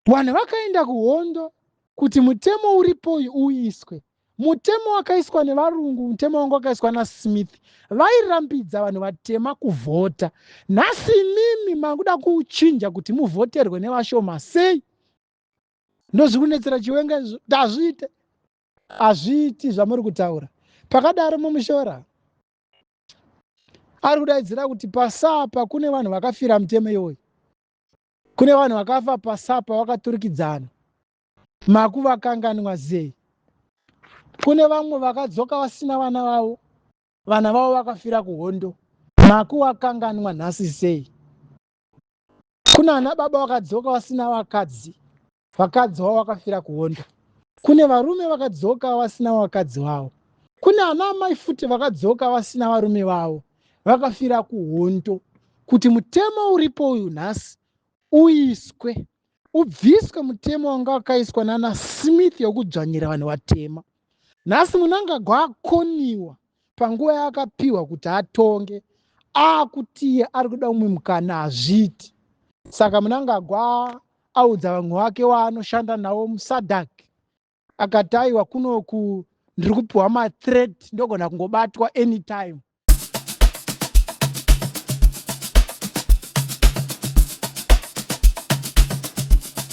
Vanhu vakaenda kuhondo kuti mutemo uripo uyu uiswe. Mutemo wakaiswa nevarungu, mutemo wanga wakaiswa naSmith, vairambidza vanhu vatema kuvhota. Nhasi imimi makuda kuuchinja kuti muvhoterwe nevashoma sei? Ndozviri kunetsera chiwenga izvo, kuti hazviite, hazviiti zvamuri kutaura. Pakadaro Mamushora ari kudaidzira kuti pasapa kune vanhu vakafira mutemo iwoyu. Kune vanhu vakafa pasapa wakaturikidzana. Maku vakanganwa zei? Kune vamwe vakadzoka vasina vana vavo. Vana vavo vakafira kuhondo. Maku wakanganwa nhasi sei? Kuna ana baba wakadzoka wasina vakadzi. vakadzi wavo vakafira kuonda kune varume vakadzoka vasina vakadzi vavo kune ana amai futi vakadzoka vasina varume vavo vakafira kuhondo kuti mutemo uripo uyu nhasi uiswe ubviswe mutemo wanga wakaiswa nana smith yokudzvanyira vanhu vatema nhasi munangagwa akoniwa panguva yaakapiwa kuti atonge akutiye ari kuda umwe mukana hazviiti saka munangagwa audza vamwe wake waanoshanda navo musadak akati aiwa kunoku ndiri kupiwa mathreat ndogona kungobatwa anytime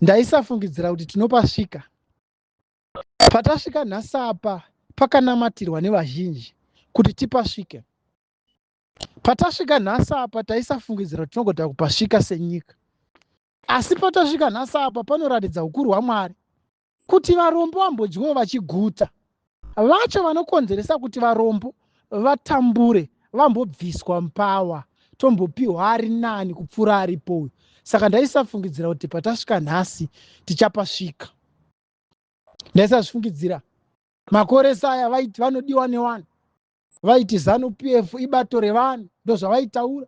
ndaisafungidzira kuti tinopasvika patasvika nhasi apa pakanamatirwa nevazhinji kuti tipasvike patasvika nhasi apa taisafungidzira kuti tinogota kupasvika senyika asi patasvika nhasi apa panoratidza ukuru hwamwari kuti varombo vambodyiwo vachiguta Vacho vanokonzeresa kuti varombo vatambure vambobviswa mupower tombopihwa ari nani kupfuura aripo uyu saka ndaisafungidzira kuti patasvika nhasi tichapasvika ndaisazvifungidzira makoresa aya vaiti vanodiwa newani vaiti zanu pf ibato revanhu ndozvavaitaura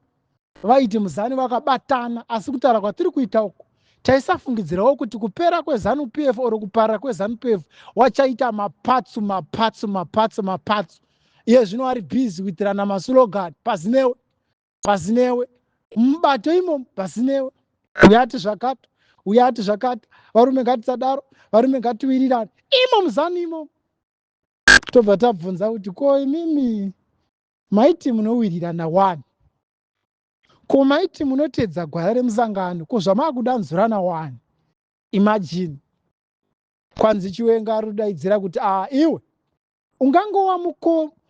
vaiti muzani vakabatana asi kutaura kwatiri kuita uku taisafungidzirawo kuti kupera kwezanu pf or kuparira kwezanu pf wachaita mapatsu mapatsu mapatsu mapatsu iye zvino ari busy kuitirana masulogani pazinewe pazinewe mubato imomo pazinewe uyati zvakati uyati zvakati varume ngatisadaro varume ngatiwirirane imo muzanu imomo tobva tabvunza kuti ko imimi maiti munowirirana wani ko maiti munoteedza gwara remusangano ko zvamaakudanzurana wani imajini kwanzi chiwenga ari kudaidzira kuti a ah, iwe ungangova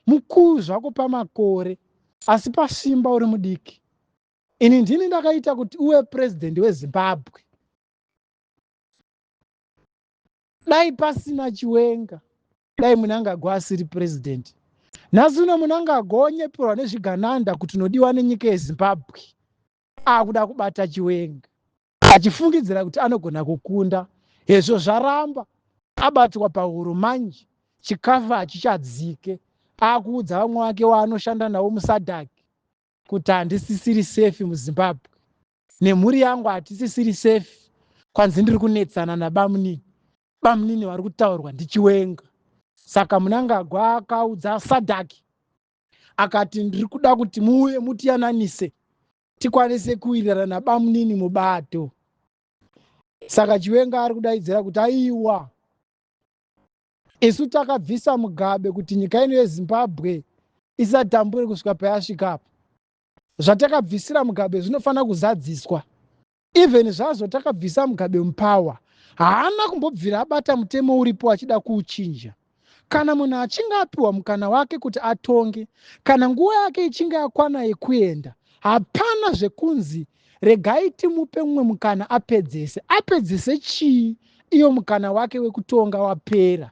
mukuru zvako pamakore asi pasimba uri mudiki ini ndini ndakaita kuti uve purezidendi wezimbabwe dai pasina chiwenga dai munangagwa asiri president nhasi uno munangagwa onyeperwa nezvigananda kuti unodiwa nenyika yezimbabwe akuda kubata chiwenga achifungidzira kuti anogona kukunda hezvo zvaramba abatwa pahuro manje chikafu hachichadzike akuudza vamwe wake waanoshanda navo musadhaki kuti handisisiri sefi muzimbabwe nemhuri yangu hatisisiri safe kwanzi ndiri kunetsana nabamunini bamunini vari kutaurwa ndichiwenga saka munangagwa akaudza sadhaki akati ndiri kuda kuti muuye mutiyananise tikwanise kuwirirana nabamunini mubato saka chiwenga ari kudaidzira kuti aiwa isu takabvisa mugabe kuti nyika ino yezimbabwe isatambure kusvika payasvika apa Zvatakabvisira Mugabe zvinofanira kuzadziswa. Even zvazvo takabvisa Mugabe mupower, haana kumbobvira abata mutemo uripo achida kuuchinja. Kana munhu achinge apiwa mukana wake kuti atonge, kana nguva yake ichinge yakwana yekuenda, hapana zvekunzi regai timupe mumwe mukana apedzese. Apedzese chii iyo mukana wake wekutonga wapera?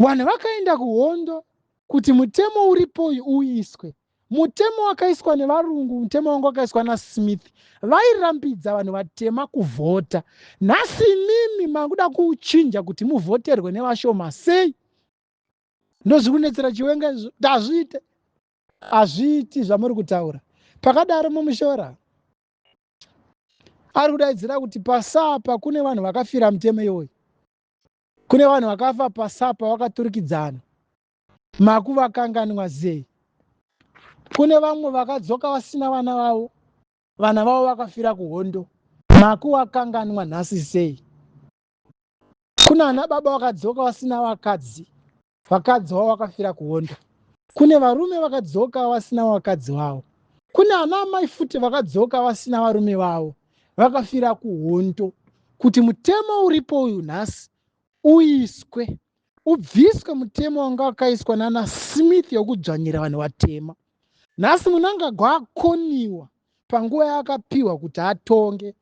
Vanhu vakaenda kuhondo kuti mutemo uripo uyu uiswe. Mutemo wakaiswa nevarungu, mutemo wanga wakaiswa naSmith, vairambidza vanhu vatema kuvhota. Nhasi imimi makuda kuchinja kuti muvhoterwe nevashoma sei? Ndozviri kunetsera Chiwenga izvo, kuti hazviite, hazviiti zvamuri kutaura. Pakadaro Mamushora ari kudaidzira kuti pasapa kune vanhu vakafira mutemo iwoyu. Kune vanhu vakafa pasapa vakaturikidzana. Makuvakanganwa zei? Kune vamwe vakadzoka vasina vana vavo, vana vavo vakafira kuhondo. Makuvakanganwa nhasi sei? Kuna ana baba vakadzoka vasina vakadzi, vakadzi wavo vakafira kuonda kune varume vakadzoka vasina vakadzi vavo kune ana amai futi vakadzoka vasina varume vavo vakafira kuhondo kuti mutemo uripo uyu nhasi uiswe ubviswe mutemo wanga wakaiswa nana smith yokudzvanyira vanhu vatema nhasi munangagwa akoniwa panguva yaakapiwa kuti atonge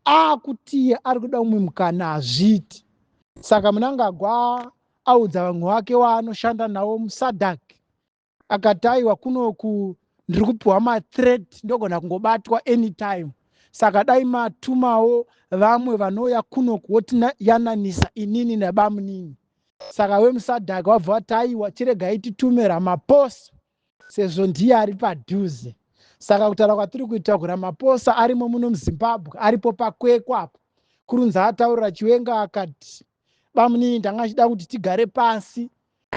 akutiye ari kuda umwe mukana hazviiti saka munangagwa audza vamwe wake waanoshanda navo musadak akati aiwa kunoku ndiri kupiwa mathreat ndogona kungobatwa anytime saka dai matumawo vamwe vanouya kunoku wotiyananisa inini nabamunini saka wemusadhaka wabva wati aiwa chiregai titume ramaposa sezvo ndiye ari padhuze saka kutaura kwatiri kuita kuramaphosa arimo muno muzimbabwe aripo pakwekwa apo kurunzi ataurira chiwenga akati bamunini ndanga chida kuti tigare pasi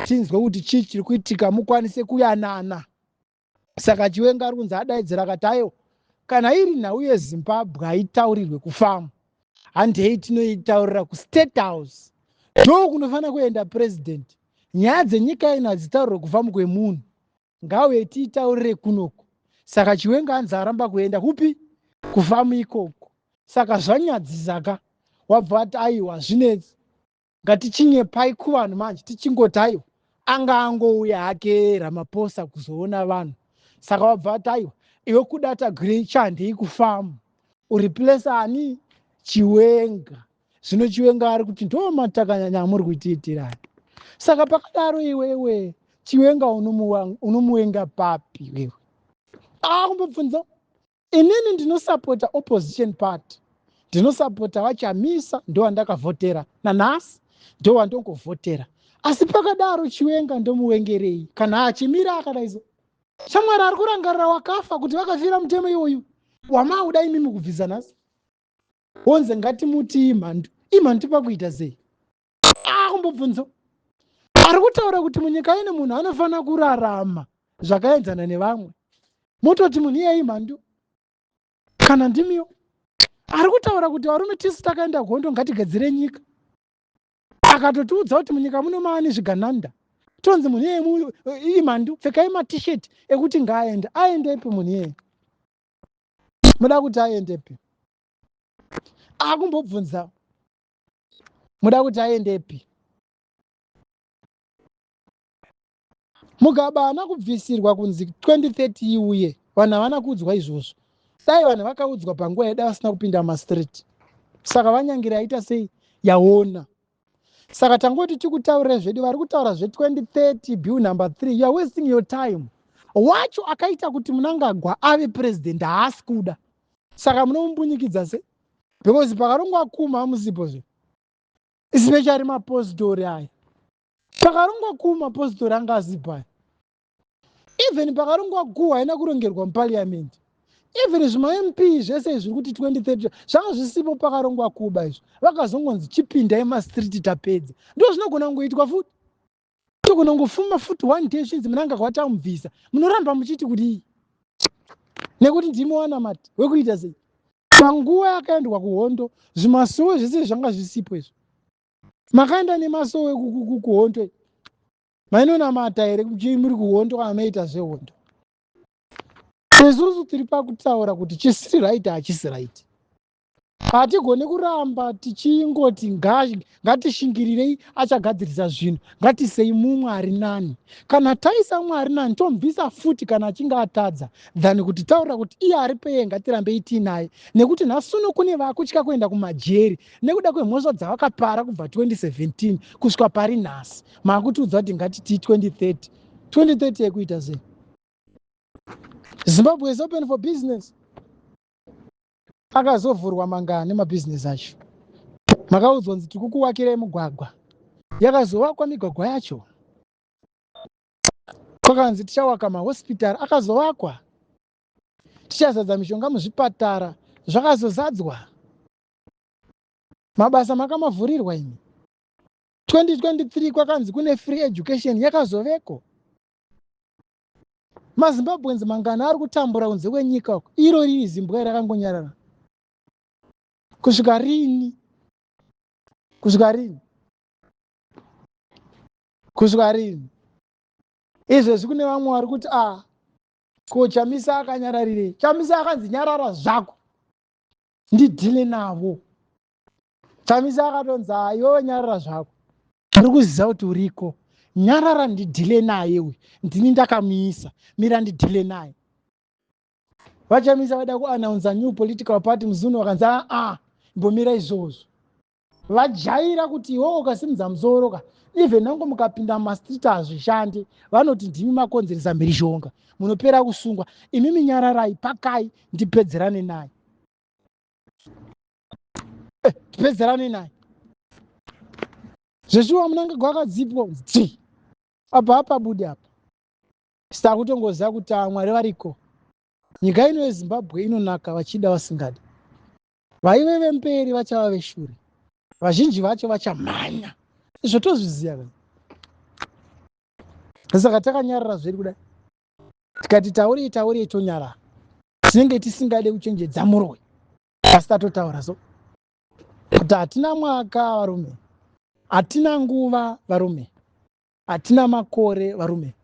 tinzwe kuti chii chiri kuitika mukwanise kuyanana saka chiwenga ari kunzi adaidzira akati aiwa kana iri nhau yezimbabwe haitaurirwe kufamu handei tinoitaurira kustate house ndoo kunofanira kuenda president nyaya dzenyika ino hadzitaurire kufamu kwemunhu ngauye tiitaurire kunoku saka chiwenga anzi aramba kuenda kupi kufamu ikoko saka zvanyadzisaka wabva ati aiwa zvinetsi Ngatichinyepai kuvanhu manje tichingoti aiwa anga angouya hake Ramaphosa kuzoona vanhu saka wabva ati aiwa iwe kudata gwiri chandei kufamu ureplace ani chiwenga zvino chiwenga ari kuti ndomatakanyanya amuri kutiitirani saka pakadaro iwewe chiwenga unomuwenga papi iwewe akumbobvunza inini ndinosapota opposition party ndinosapota vachamisa ndowandakavhotera nanhasi ndowandongovhotera asi pakadaro chiwenga ndomuwengerei kana achimira akadaiso shamwari ari kurangarira wakafa kuti vakafira mutemo iwoyu wamauda imimi kubvisa nhasi wonze ngatimuti imhandu imhandu pakuita sei akumbobvunzo ah, ari kutaura kuti munyika ine munhu anofanira kurarama zvakaenzana nevamwe mototi munhu iyeye imhandu kana ndimiwo ari kutaura kuti varume tisu takaenda gondo ngatigadzire nyika akatotiudza kuti munyika muno maani zvigananda tonzi munhu iyeye eh, imhandu pfekai matishet ekuti ngaaende aendepi munhu iyeye muda kuti aendepi akumbobvunzawo muda kuti aendepi mugaba haana kubvisirwa kunzi 2030 iuye vanhu havana kuudzwa izvozvo dai vanhu vakaudzwa panguva yeda vasina kupinda mumastreet saka vanyangira aita sei yaona saka tangoti tikutaurira zvedu vari kutaura zve2030 bill number 3 youare wasting your time wacho akaita kuti munangagwa ave president haasi kuda saka munomumbunyikidza sei because pakarongwa kuma amuzibozo especially mapositori aya pakarongwa ku mapositori anga azibhaya even pakarongwa ku haina kurongerwa mupariamendi even zvimamp zvese izvi zviri kuti 2030 zvanga zvisipo pakarongwa kuba izvo vakazongonzi chipindai mastreet tapedza ndo zvinogona kungoitwa futi togona kungofuma futi one day zvinzi munanga kwatamubvisa munoramba muchiti kudii nekuti ndimi wanamati wekuita sei panguva yakaendwa kuhondo zvimasowe zvese zvanga zvisipo izvo makaenda nemasowe kuhondo mainonamata here kuti muri kuhondo kana maita zvehondo isusu tiri pakutaura kuti chisiri right hachisi right hatigoni kuramba tichingoti ngatishingirirei achagadzirisa zvinhu ngatisei mumwe ari nani kana taisa mumwe ari nani tombisa futi kana achinge atadza than kuti taurira kuti iye ari peye ngatirambei tiinaye nekuti nhasuno kune vakutya kuenda kumajeri nekuda kwemhosva dzavakapara kubva 2017 kusvika pari nhasi maakutiudza kuti ngatitii 2030 2030 yekuita sei zimbabwe is open for business Akazovhurwa mangani mabhizinesi acho? Makaudzwa kunzi tiri kukuvakirai mugwagwa. Yakazovakwa migwagwa yacho? Kwakanzi tichawaka mahosipitari akazovakwa? Tichazadza mishonga muzvipatara zvakazozadzwa? Mabasa makamavhurirwa imi? 2023 kwakanzi kune free education yakazoveko? mazimbabweans mangana ari kutambura kunze kwenyika uko iro riri zimbwa rakangonyarara kusvika rini kusvika rini kusvika rini izvezvi kune vamwe vari kuti a ah, ko chamisa akanyararirei chamisa akanzi nyarara zvako ndidhile navo chamisa akatonzi ayowe nyarara zvako ari kuziva kuti uriko nyarara ndidhile naye uyu ndini ndakamuisa mira ndidhile naye vachamisa vaida kuannounce new political party muzunu vakanzi aa ah, ah, mbomira izvozvo vajaira kuti iwowo ukasimudza musoro ka even nango mukapinda mumastreet hazvishandi vanoti ndimi makonzeresa mhirizhonga munopera kusungwa imi minyararai pakai ndipedzerane naye tipedzerane naye zveshuwa munangagwa akadzipwa ti apa apa budi apa saka kutongoziva kuti amwari ah, variko nyika ino yezimbabwe inonaka vachida vasingadi vaive vemberi vachava veshure vazhinji vacho vachamhanya izvo tozviziva ka saka takanyarara zveri kudai tikati taurii taurii tonyarara tinenge tisingade kuchenjedza muroyi asi tatotaura so kuti hatina mwaka varume hatina nguva varume hatina makore varume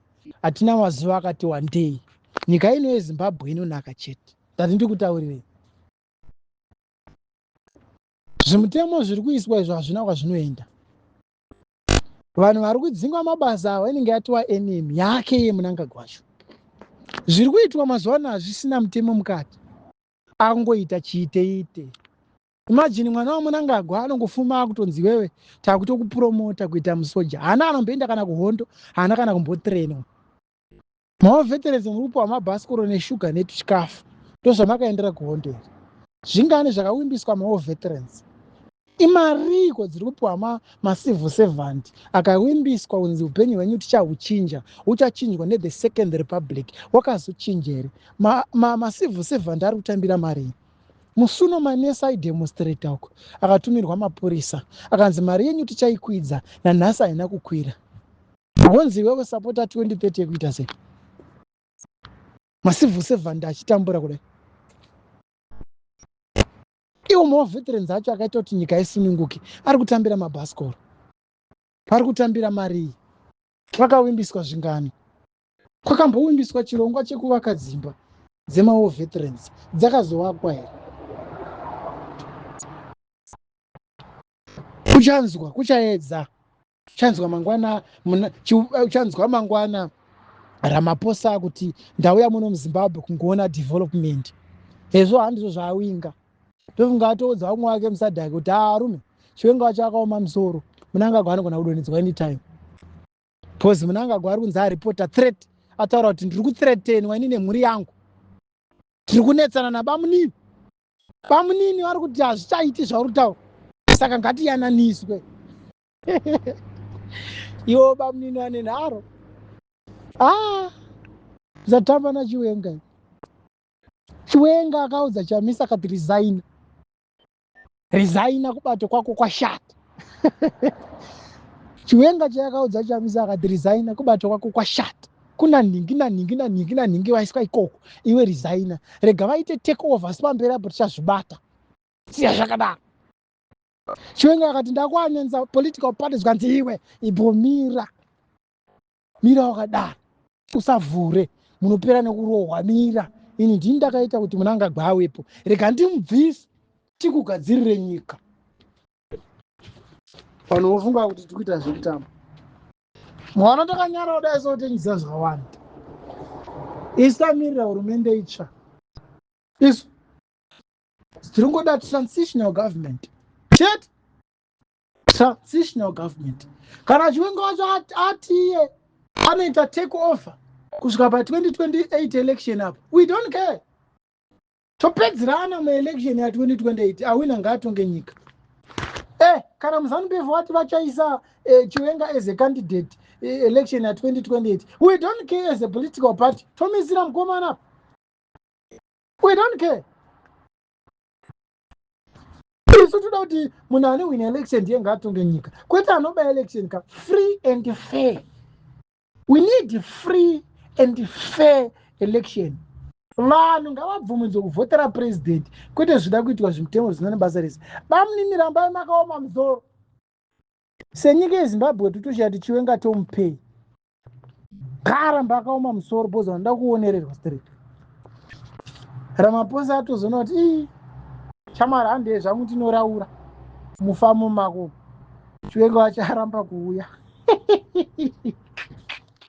hatina mazuva akati wandei nyika ino yezimbabwe inonaka chete ndati ndikutaurirei zvimutemo zviri kuiswa izvo hazvina kwazvinoenda vanhu vari kudzingwa mabasa avo inenge yatova enemy yake yemunangagwa wacho zviri kuitwa mazuva ano hazvisina mutemo mukati akungoita chiiteite imagine mwana wamunangagwa anongofuma akutonzi wewe takutokupromota kuita musoja haana anomboenda kana kuhondo haana kana kumbotrainwa maoveterezi murupo wamabhasikoro neshuga netuchikafu ndozvamakaendera kuhondo here zvingani zvakawimbiswa maoveterans imariiko dziri kupiwa ma, macivil servant akavimbiswa kunzi upenyu hwenyu tichahuchinja huchachinjwa nethe second republic wakazochinja here macivil ma, ma servant ari kutambira marii musuno manesi aidemonstrata uko akatumirwa mapurisa akanzi mari yenyu tichaikwidza nanhasi haina kukwira wonzi iwewe sapota 2030 yekuita sei macivil servant achitambura kudai Iwo maveterans acho akaita kuti nyika isununguke ari kutambira mabhasikoro. Ari kutambira marii? Kwakavimbiswa zvingani? Kwakambovimbiswa chirongwa chekuvaka dzimba dzemawo veterans dzakazovakwa here? Kuchanzwa, kuchaedza. chanzwa mangwana muna, ch, eh, chanzwa mangwana ramaposa kuti ndauya muno muzimbabwe kungoona development hezvo handizvo zvaawinga ndofunga atoudza umwe wake musadhaki kuti arume chiwenga wacho akaoma musoro munangagwa anogona kudonhedzwa anytime bcause munangagwa ari kunzi aripota threat ataura kuti ndiri kuthreatenwa ini nemhuri yangu tiri kunetsana nabamunini bamunini vari kuti hazvichaiti zvauri kutaura saka ngatiyananiswe iwo bamunini ane nharo a ah, zatamba nachiwenga chiwenga akaudza chamisa akati resigna resigna kubato kwako kwashata chiwenga chayakaudza chamisa akati resigna kubato kwako kwashata kuna nhingi nanhingi nanhingi nanhingi vaiswa ikoko iwe resigner rega vaite take over asi pamberi apo tichazvibata siya zvakadaro chiwenga akati ndakuanyanza political party zvikanzi iwe ibvomira mira wakadaro usavhure munopera nekurohwa mira ini ndini ndakaita kuti munangagwa awepo rega ndimubvise tikugadzirire nyika vanhu vofunga kuti tiri kuita zvekutamba mwana takanyara kudai sotengisa zvawanda isu tamirira hurumende itsva isu tiri kungoda transitional government chete transitional government kana chiwenga wacho atiye anoita take over kusvika pa 2028 election apo we don't care topedzerana muelection ya 2028 awina ngaatonge nyika eh kana muzanu befu vati vachaisa eh, chiwenga as a candidate eh, election ya 2028 we don't care as a political party tomisira mukomana apa we don't care isu toda kuti munhu ane wina election ndiye ngaatonge nyika kwete anoba election ka free and fair we need free and fair election vanhu ngavabvumidzwe kuvhotera purezidenti kwete zvida kuitwa zvimutemo zvisina nebasa rese bamunini rambai makaoma muzoro senyika yezimbabwe titoshaya tichiwenga tomupei gara mbakaoma musoro bhozi vanoda kuonererwa straight ramaposa atozoona kuti ii chamwari handei zvangu ndinoraura mufamu mako chiwenga vacharamba kuuya